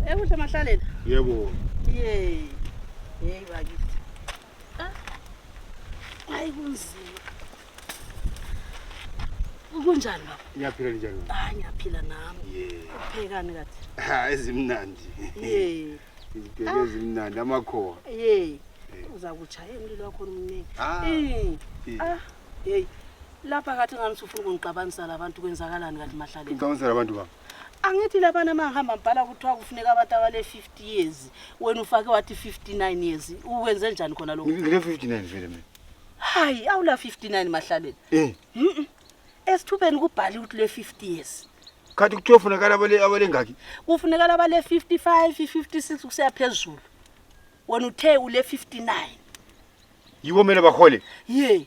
Ekuhle mahlalela. Yebo. Yey. Yey bakithi. Ah. Hayi kunzima. Kunjani baba? Ngiyaphila njani? Ah ngiyaphila nami. Yey. Uphekani kathi? Ha ezimnandi. Yey. Izibheke ah. ezimnandi amakhowa. Yey. Uza kuchaya umlilo wakho omningi. Ah. Eh. Ah. Yey. Lapha kathi ngani usufuna ukungixabanisa labantu kwenzakalani kanti mahlalela? Ngixabanisa labantu baba. angithi labana mangihamba mbhala kuthiwa kufuneka abantu abale 50 years wena ufake wathi 59 years uwenze njani khona lokho ngile 59 vele mina hayi awula 59 mahlaleni eh mhm esithubeni kubhali ukuthi le 50 years khathi kuthiwa ufunekala abale abale ngaki kufunekala abale 55 56 kuseya phezulu wena uthe ule 59 yiwo mina bahole ye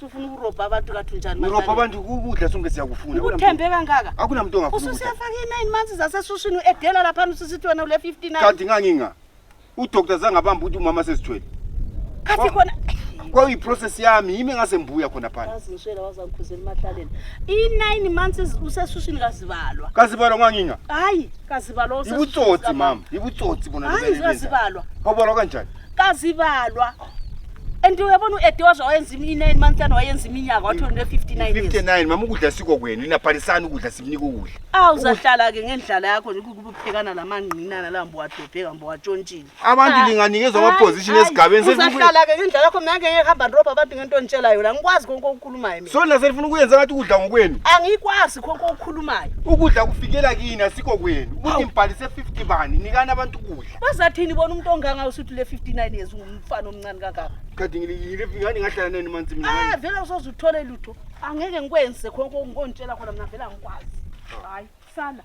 sufuna ukurobha abantu kathi unjani manje? Urobha abantu ukudla sonke siyakufuna. Akuna Uthembe kangaka. muntu- Akuna muntu ongafuna ukudla. Ususiyafaka i-nine months zasesushini u-edela laphana ususithi wena ule 59. Kanti nganginga. Udoktor zange abambe ukuthi umama sesithwele. Khathi khona Kwakuyi process yami yimi ngase ngibuya khona phansi. yazi ngishela wazangikhuzela emakhaleni. I-nine months usesushini kazibalwa. Kazibalwa nganginga. Hayi, kazibalwa usesushini Ibutsotsi sikamama. mama, ibutsotsi bona Hayi, lokho elenzayo. kazibalwa. Wabona kanjani? Kazibalwa. and uyabona u-edioza wayenza i-nine months and wayenza iminyaka wathi une 59 years 59 mama ukudla siko kwenu inabhalisani ukudla simnika ukudla awu uzahlala-ke ngendlala yakho nje kukuphekana la mangqinana la mbowadobheka mbowatshontshile abantu Ah. linganikezwa Hayi, amaposition hayi, esigabeni sesi- uzahlala-ke ngendlala yakho mina ngeke ngihamba ndirobha abantu ngento onditshela yona ngikwazi konke okukhulumayo mina so nina senifuna ukuyenza ngathi ukudla ngokwenu angikwazi konke okukhulumayo ukudla kufikela kini asikho kwenu ukuthi ngibhalise 50 bani nikani abantu ukudla bazathini bona umuntu onganga usuthi le 59 years ungumfana omncane kangaka kade ngilifingane ngahlala nani manzi mina ah vele usoze uthole lutho angeke ngikwenze khonke ngontshela khona mina vele angikwazi hayi sala